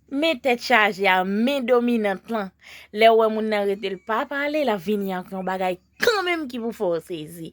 Men tèt chaje a men dominant lan lè wè moun nan rete l pa pale lap vini ak yon bagay kanmenm ki pou fè w sezi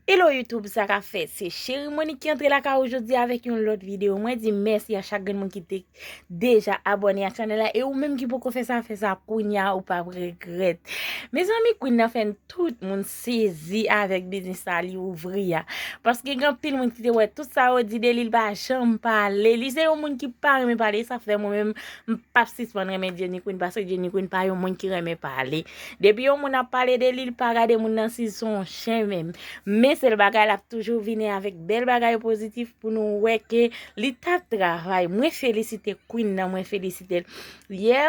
Hello YouTube sa kap fèt se Cheri Monique ki antre lakay ou jodi a avèk yon lòt videyo mwen di mèsi a chak grenn moun ki te deja abòne ak chanèl la e ou menm ki poko fè sa fè sa kounya ou pap regrèt Mezanmi Queen nan fè tout moun sezi avèk biznis sa li ouvri a paske gen anpil moun ki te wè tout sa yo di de li li pa janm pale li se yon moun ki pa renmen pale e sa fè mwen menm m pap sispann renmen Jenny Queen paske Jenny Queen pa yon moun ki renmen pale depi yon moun ap pale de li li pa gade moun nan si l son chen menm men sèl bagay l ap toujou vini avèk bèl bagay pozitif pou nou wè ke li tap travay mwen felisite Queen nan mwen felisite l yè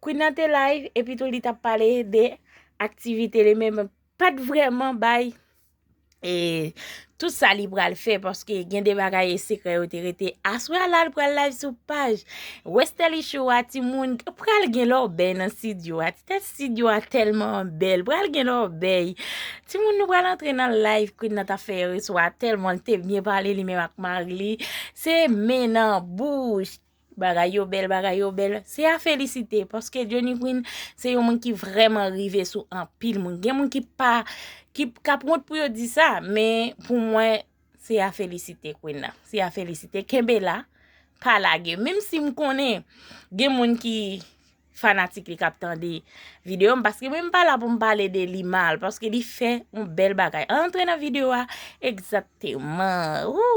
Queen nan te live epi tou li tap pale de aktivite li men pat vreman bay e tout sa li pral fè paske gen de bagay e sekrè yo te rete. Aswè a la li pral live sou paj Westerlie Show a ti moun pral gen lò bèy nan studio a ti tèt studio a tèlman bèl pral gen lò bèy ti moun nou pral antre nan live Queen nan tap fè yè swa tèlman li te byen pale li menm ak mari li se men nan bouch. Bagay yo bèl bagay yo bèl se a felisite paske Johnny Queen se yon moun ki vrèman rive sou anpil moun gen moun ki pa ki kap wont pou yo di sa men pou mwen se a felisite Queen nan se a felisite kenbe la pa lage menm si m konnen gen moun ki fanatik li kap tande video m paske mwen m pa la pou m pale de li mal paske li fè yon bèl bagay an antre nan video a egzakteman ooh.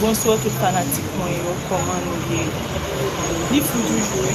Bonsoir tout fanatik mwen yo koman nou ye li fou toujou wi.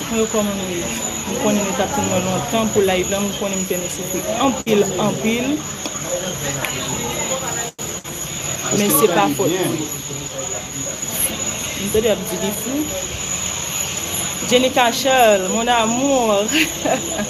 Mwen kòman nou ye m konnen nou tap tann mwen lontan pou live la m konnen m fè nou soufri anpil anpil men se pa fòt mwen m tande yap di li fou Jenicka Charles mon amour.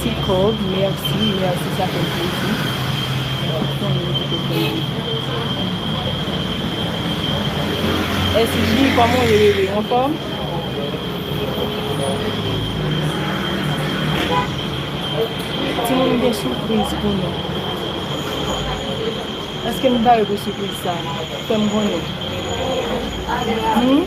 Ti kòb merci merci sa fèm plezi konnen ou te pran li. SJ kòman ou ye bebe anfòm? Timoun m gen sipriz pou nou. Eske m pare pou sipriz sa? Fèm konnen. Humm.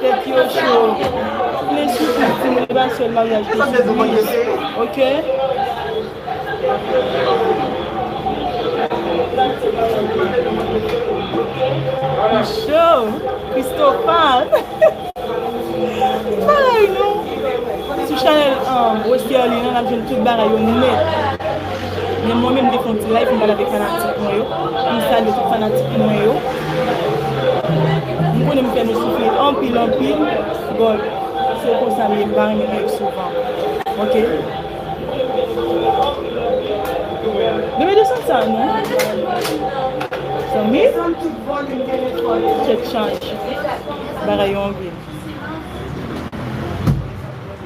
Tèt yo cho. Plen soufri ti moun li pa sèl maryaj ki soufri ok. Li cho. Christofan. Bagay nou. Sou chanel Westerlie nan nap jwenn tout bagay yo nèt. Men mwen menm m te fè yon ti live m pale avèk fanatik mwen yo pou m salye tout fanatik mwen yo. M konnen m fè nou soufri anpil anpil but se konsa m ye m pa renmen live souvan ok. Bebe desann sa non. Zanmi tèt chaje bagay yo anpil.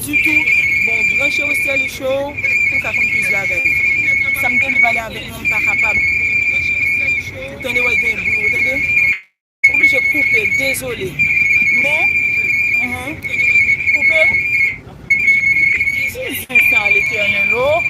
Tutu bon branche ou Sterli show pou ka konn plis bagay sam te vle pale avek nou mpa kapab ou tande way gen bri ou tande. Ou blije koupe dezole men uhmm koupe. Ki zen sa letènèl oh.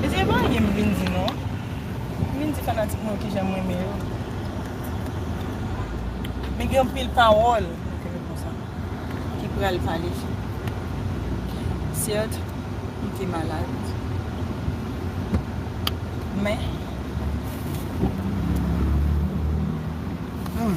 Mesye epa anyen m vin di non. M vin di fanatik mwen yo kijan m renmen yo. Men gen anpil pawòl ki pral pale. Syèt m te malad. Men Humm.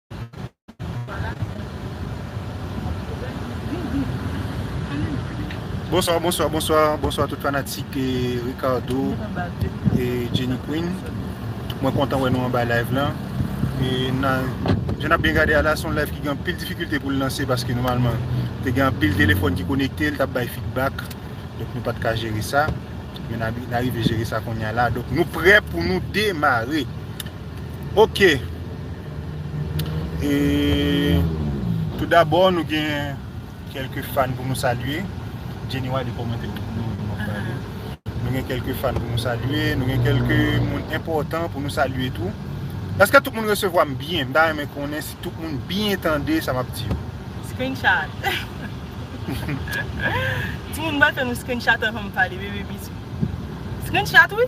Bonswa, bonswa, bonswa, bonswa tout fanatik e Ricardo e Jenny Queen Mwen kontan wè nou anba live lan E nan, jen ap byen gade ala son live ki gen pil difikilte pou l lanse Paske noumalman, te gen pil telefon ki konekte, l tap bay feedback Donk nou pat ka jere sa Men na rive jere sa kounye a la Donk nou prè pou nou demare Ok e Tout dabò nou gen kelke fan pou nou salye Jenny wale komante pou nou Nou gen kelke fan pou nou salye Nou gen kelke moun enpotan pou nou salye tou Eske tout moun resevwa m byen M ta renmen konnen si tout moun byen tande sa m ap di yo Screenshot Timoun m ba tande screenshot anvan m pale bebe bisou Screenshot wi.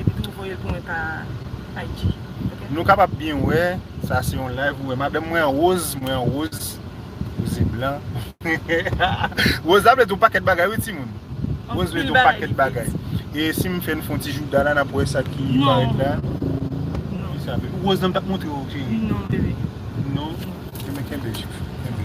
Epi tou voyel pou mwen pa IG ok. Nou kapab byen wè sa se yon live ou wè madanm mwen an rose mwen an rose rose blan rose la vle di yon pakèt bagay wi timoun rose vle di yon pakèt bagay e sim fè nou fon ti jouda la nap wè sa ki parèt la rose la mtap montre ou cheri non bebe non kenbe chou kenbe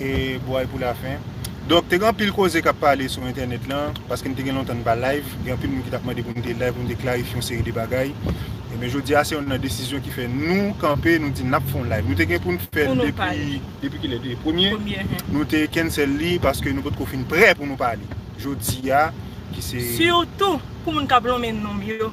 e bway pou la fen. Donk te gen anpil koze kap pale sou entènèt lan, paske m te gen lontan m pa live, gen anpil moun ki tap mande pou m te live pou m te klarifye yon seri de bagay. Ebyen jodi a se yon nan desizyon ki fè nou kanpe nou di nap fè yon live. Nou te gen pou n fè l depi depi kilè depi premye nou te cancel li paske nou potko fin prè pou nou pale. Jodi a ki se. Sitou pou moun kap lonmen nonm yo.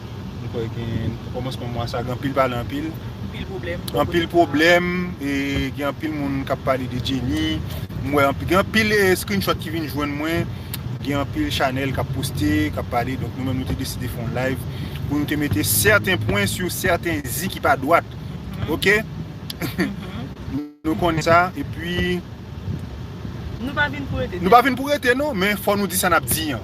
M kwè gen kòmansman mwa sa gen anpil pale anpil. Anpil pwoblèm. Anpil pwoblèm e gen anpil moun kap pale de Jenny. M wè anpil gen anpil screenshot ki vin jwenn mwen. Gen anpil chanèl kap poste, kap pale. Donk nou menm nou te deside fè yon live pou nou te mete sèten pwen sou sèten zi ki pa dwat. Ok? Nou konnen sa e pi Nou pa vin pou rete. Nou pa vin pou rete non men fò nou di sa nap di an.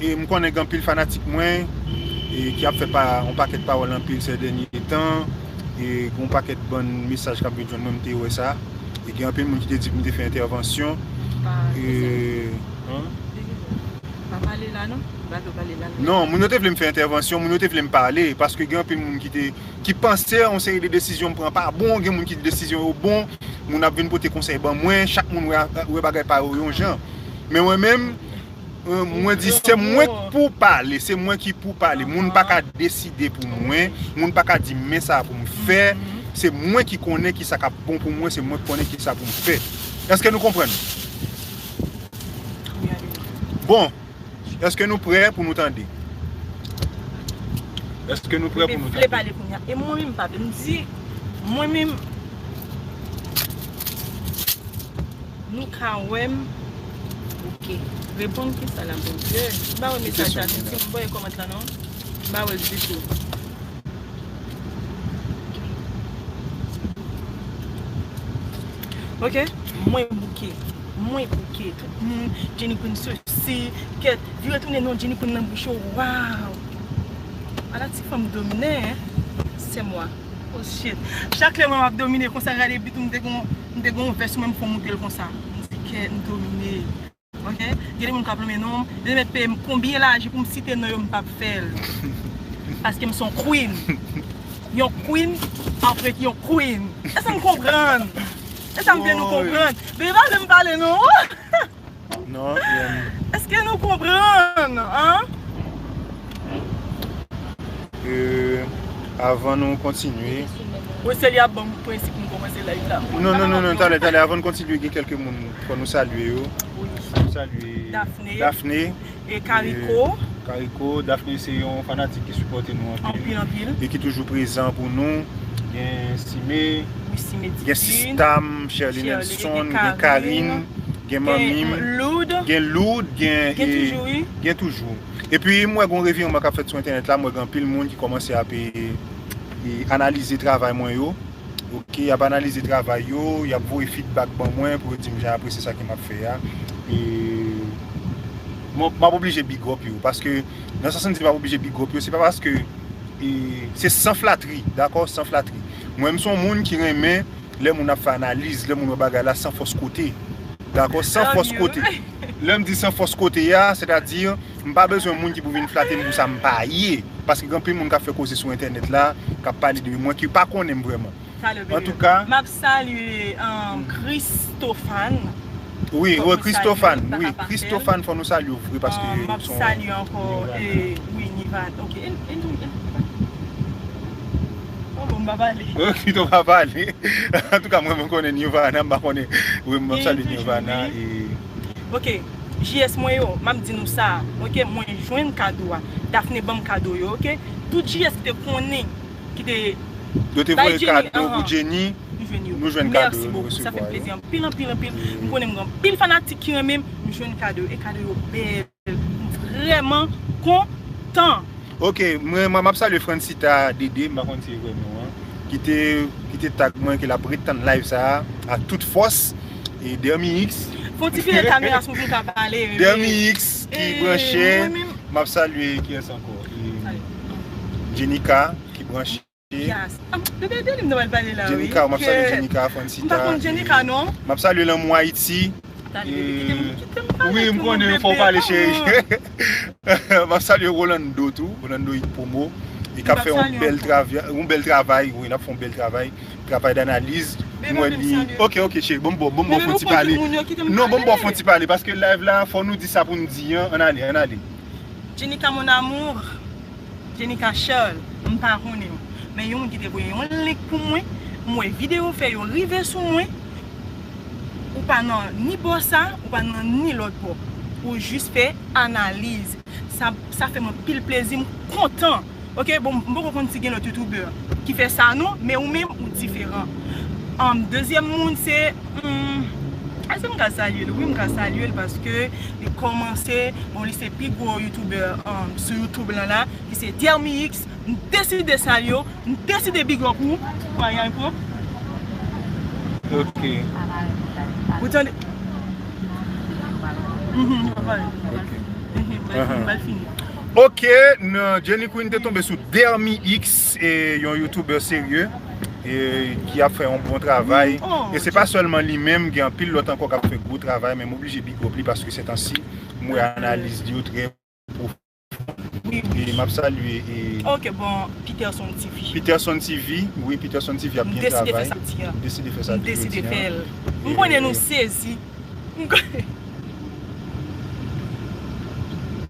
E m konnen gen anpil fanatik mwen e ki ap fè pa yon pakèt pawòl anpil sè dènye tan e gen yon pakèt bann mesaj kap vin jwenn mwen m te wè sa e gen anpil moun ki te di pou m te fè entèvansyon e Pa pale la non Ba do pale la Non moun yo te vle m fè entèvansyon moun yo te vle m pale paske gen anpil moun ki te ki panse yon seri de desizyon m pran pa bon gen moun ki di desizyon yo bon moun ap vin pote konsèy ban mwen chak moun wè bagay pa yo yon jan men mwen menm Mwen di se mwen k pou pale, se mwen ki pou pale, moun pa ka deside pou mwen, moun pa ka di m men sa pou m fè, se mwen ki konnen ki sa k ap bon pou mwen, se mwen ki konnen ki sa pou m fè. Eske nou konprann? Bon, eske nou prè pou nou tande? Eske nou prè pou nou tande? Mwen pale kounye a, e mwen menm m pa vle, m di mwen menm. Nou ka wem ok. Reponn kisa la bondye. M pa wè mesaj la tou tou m pa wè comment la non m pa wèl ditou. Ok mwen bouke mwen bouke tout moun jenny queen sosi ket vire tounen non jenny queen nan bouch ou waw ala ti fanm domine hein sèm wa. Oh shit. Chak lè m wè map domine konsa gade but m te gon m te gon vès sou menm m fon moutel konsa. M se kè m domine ok. Gen de moun kap lonmen non m. Yo met peyem konbyen laje poum site non yo m pap fèl. Paske m son queen. Yon queen ap ret yon queen. Esam konprann? Esam fè nou konprann? Bebe pa vle m pale non. Eske nou konprann an? Avan nou kontinye. Ou se li ap banm prensip nou komanse live la. Non non non non talè talè avan nou kontinye gen kelke moun fò nou salye yo. Daphne. E Caricot? E Caricot, Daphné se yon fanatik ki sipòte nou anpil. Anpil, anpil. E ki toujou prezan pou nou. Gen Sime. Wi, Sime Divine. Gen sistam, Sherline Elson. Gen Carine. Gen manmi m. Gen Loud. Gen Loud, gen. Gen toujou wi. Gen toujou. E pi m wè gon revireman k ap fèt sou entènèt la, m wè gen anpil moun ki kòmanse ap analize travay mwen yo. Ok, y ap analize travay yo, y ap voye fidbak ban mwen pou yo di m jan y apresye sa ke m ap fè a. E mwen m ap oblije big up yo paske nan sans m di m ap oblije big up yo se pa paske e se san flatri dakò, san flatri. Mwen m s on moun ki renmen lè moun ap fè analiz, lè moun wè bagay la san fòs kote. Dakò, san fòs kote. Lè m di san fòs kote a, sètadi. M pa bezwen moun ki pou vin flate m pou sa m pa ye. Paske gen anpil moun k ap fè koze sou entènèt la, k ap pale de m, mwen ki pa konnen m vrèman. Antouka. M ap salye Christophane. Wi, wi Christophane, wi Christophane fò nou salye w vre paske son. M ap salye ankò wi Nivane. Ok, e nou menm ki pou pale? Bon, bon m pa pale. Ok, pito w pa pale. Antouka mwen mwen konnen Nivana, m pa konnen. Wi, m ap salye Nivana e. Ok. GS mwen yo, map di nou sa a ok mwen jwenn kado a Daphné banm kado yo ok tout GS ki te konnen ki te Yo te voye kado pou Jenny nou jwenn yo nou jwenn kado yo nou resevwa yo mèsi bokou sa fèm plezi anpil anpil anpil m konnen m gen anpil fanatik ki renmen m m jwenn kado yo e kado yo bèl m vrèman kontan. Ok mwen map salye Francita DD m pa konn si e vre non an ki te ki te tag mwen ke lap ret tann live sa ak tout fòs e Dermix Fon ti file kamera sou pou ka pale bebe Dermix ki branche map salye kiyes ankò e Jenika ki branche. Jas Ahh nou gen de liv nou pral pale la wi Jenika map salye Jenika Afrancita e map salye lanmou Ayiti e wi m konnen fòw pale cheri map salye Rolando tou Rolando it promo e kap fè yon bèl travay yon bèl travay wi nap fè yon bèl travay travay danaliz m wè li ok ok cheri banm baw banm baw fon ti pale non banm baw fon ti pale paske live la fò nou di sa poun di an an ale an ale Jenika mon amour. Jenica Charles m pa konnenw men yon moun ki te voye yon link pou mwen m wè video w fè yo rive sou mwen ou pa nan ni bò sa ou pa nan ni lòt bò ou jis fè analiz sa fèm anpil plezi m kontan ok bon m poko konn si gen lòt youtuber ki fè sa non men ou menm ou diferan dezyèm moun se. Humm eske m ka salye l wi m ka salye l paske li kòmanse bon li se pi gwo youtubè sou youtube lan la ki se Thermix m deside salye w m deside big up ou pou ayay pou ok ou tande humm m pral pale ok humm m pral fini ok Jenny Queen te tonbe sou Thermix. Se yon youtuber serye ki ap fè yon bon travay e se pa sèlman li menm gen anpil lòt ankò kap fè gwo travay men m oblije big up li paske setansi m wè analiz li yo trè pwofon e map salye Peterson TV wi Peterson TV ap byen travay m deside fè samdi jodi an.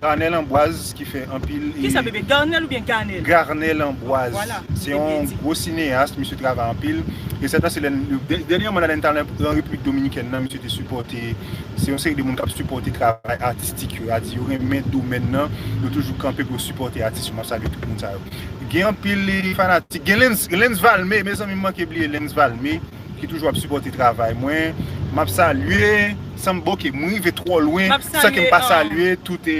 Garnel Ambroise ki fè anpil. Kisa bebe? Garnel oubyen Ganel? Garnel Ambroise. Se yon gwo sineyas, misye travay anpil. Resètman se lè n, dènyeman la lè n t al an Repiblik Dominikèn nan, misye te sipòte, se yon seri de moun k ap sipòte travay atistik yo, a di yo renmen domèn nan, yo toujou kanpe pou yo sipòte atis yo, m ap salye tout moun sa yo. Gen anpil fanatik, gen Lens Valme, mezanmi m manke bliye Lens Valme. Ki toujou ap sipòte travay mwen map salye sanm bon ke m rive twò lwen san ke m pa salye tout e.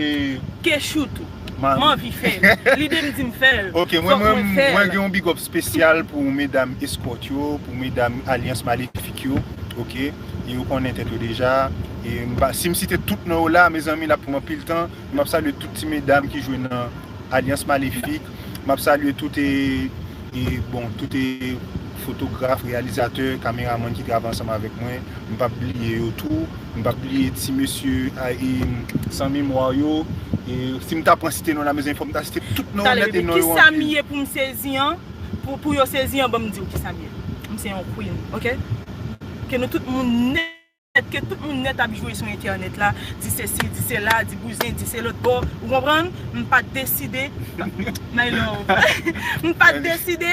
Kechou tou m anvi fè l lide m di m fè l fòk mwen fè l. Ok mwen gen yon bigòp spesyal pou medam eskòt yo pou medam alyans malefik yo ok e yo konnen tèt yo deja e m pa si m site tout non yo la mezanmi l ap pran anpil tan e m ap salye tout ti medam ki jwe nan alyans malefik. Map salye tout e bon tout e fotograf, reyalizatè, kameramann ki travay ansanm avèk mwen, m pap bliye yo tou, m pap bliye ti mesye a e san memwa yo, e si m ta pran site non la mezanmi fòk m ta site tout non nèt e non yo anpil. Talè bebe kisam ye poum sezi an pou yo sezi an banm diw kisam ye m se yon queen ok ke nou tout moun nèt. Èske tout moun nèt ap jwe sou entènèt la, di sesi, di sela, di bouzen, di se lòt bò, ou konprann? M pa t deside, my love, m pa t deside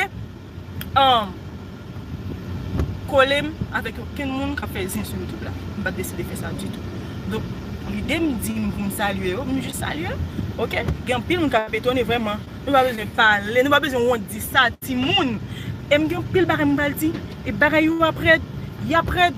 kole m avèk okenn moun k ap fè zen sou YouTube la. M pa t deside fè sa ditou. Donk, lide m di m pou m salye yo, m jis salye. Ok, gen anpil moun k ap etone vrèman. Nou pa bezwen pale, nou pa bezwen wont di sa, timoun! E m gen anpil bagay m pral di. E bagay yo ap rèd, y ap rèd!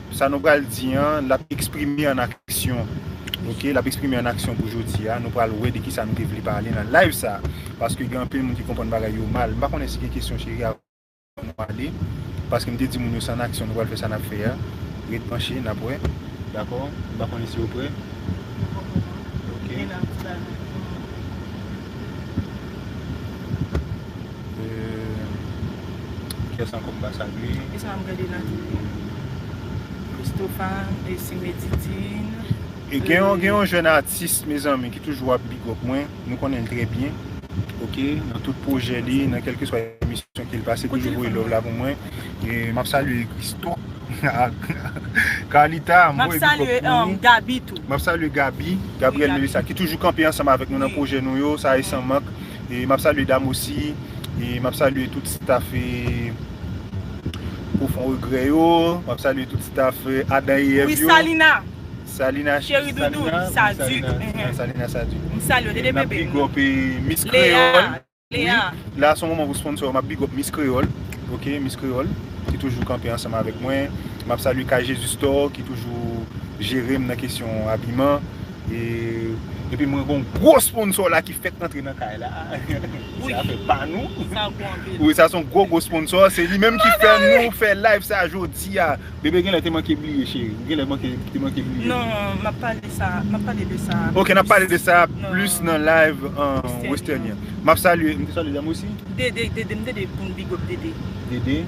Sa nou pral di an, l ap eksprime an aksyon. Ok, l ap eksprime an aksyon pou jodi a. Nou pral wè de ki sa nou te vle pale nan live sa. Paske gen anpil moun ki konprann bagay yo mal. M pa konnen si gen kesyon cheri avan nou ale. Paske m te di moun yo se an aksyon nou pral fè sa n ap fè a. Ret branche, n ap wè. Dakò? M pa konnen si yo prè. Yo pa prè non. Ok. Gen nan ti bagay. Kiyès ankò m pa salye? Kisa m gade la toujou? Christopha, Esime Titine. Gen yon jèn atis mezanmi ki toujou ap big up mwen, nou konnen l trè byen ok nan tout pwojè li, nan kèlkeswa emisyon ke l pase toujou voye love la pou mwen. M ap salye Christo ak Carlita, m voye big up pou nou. M ap salye Gaby tou. M ap salye Gaby, Gabriel Melissa ki toujou kanpe ansanm avèk nou nan pwojè nou yo, sa e san mank. E map salye dam osi. E map salye tout staff e profon regrè yo. Map salye tout staff Adan e Èv yo. Wi Salina. Salina cheri doudou Salina. Salina Sadik. M salye w dede bebe m. Map big up e Miss Kreyol. Lea. La son moman pou sponsor yo. Map big up Miss Kreyol. Ok Miss Kreyol ki toujou kanpe ansanm avèk mwen. Map salye K-Jesus Store ki toujou jere m nan kesyon abiman. Epi mwen gon gwo sponsor la ki fèk antre nan kay la. Se afè pa nou. Sa gwo anpil. Wi sa son gwo gwo sponsor. Se li menm ki fè nou fè live sa jodi a. Bebe genlè te manke bliye cheri. Ou genlè manke te manke bliye. Non map pale sa map pale de sa. Ok nap pale de sa plis nan live western yan. Map salye. M te salye dam osi? Dede dede m dede poun big up dede. Dede?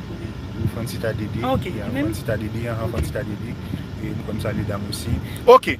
Wi francita dede. Ok li menm? Francita dede anhan francita dede. M konn salye dam osi. Ok.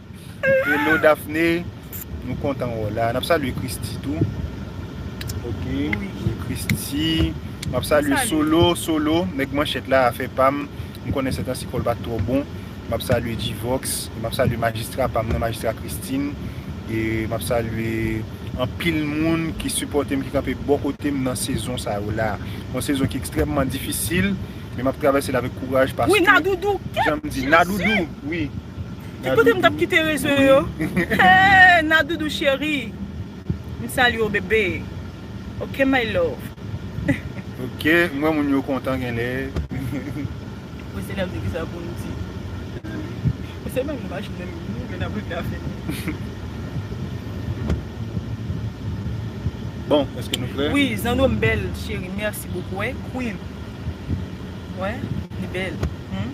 Hello Daphné Nou kontan wè w la Nap salye Christie tou Ok Christie Map salye Solo Solo nèg manchèt la afè pa m M konnen sè tan si kò l pa t twò bon Map salye G-vox Map salye majistra pa m nan majistra Christine E map salye Anpil moun ki sipòte m ki kanpe bò kote m nan sezon sa yo la Yon sezon ki ekstrèmman difisil Men map travèse l avèk kouraj paske Jan m di Nadoudou wi Ki kote m tap kite rezo yo Hey Nadoudou chérie M salye w bébé Ok my love. Ok m wè moun yo kontan genlè. Bon se lè m di kisa pou m di. Bon se menm imaj menm nou vle nan bouda fini. Bon eske nou prè. Wi zanno m bèl chérie merci beaucoup wè kwiv wè li bèl humm.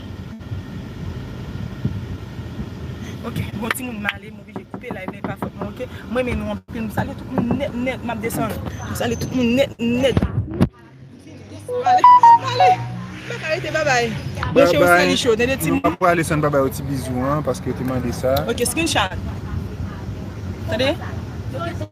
Ok bon ti moun male m oblije koupe live la epa fòt mwen ok m renmen nou anpil m salye tout moun nèt nèt map desann m salye tout moun nèt nèt male male mwen ka rete babay mwen che ou sali cho tande ti moun mwen pa prale san pa bay ou ti bizou an paske ou te mande sa ok screenshot tande.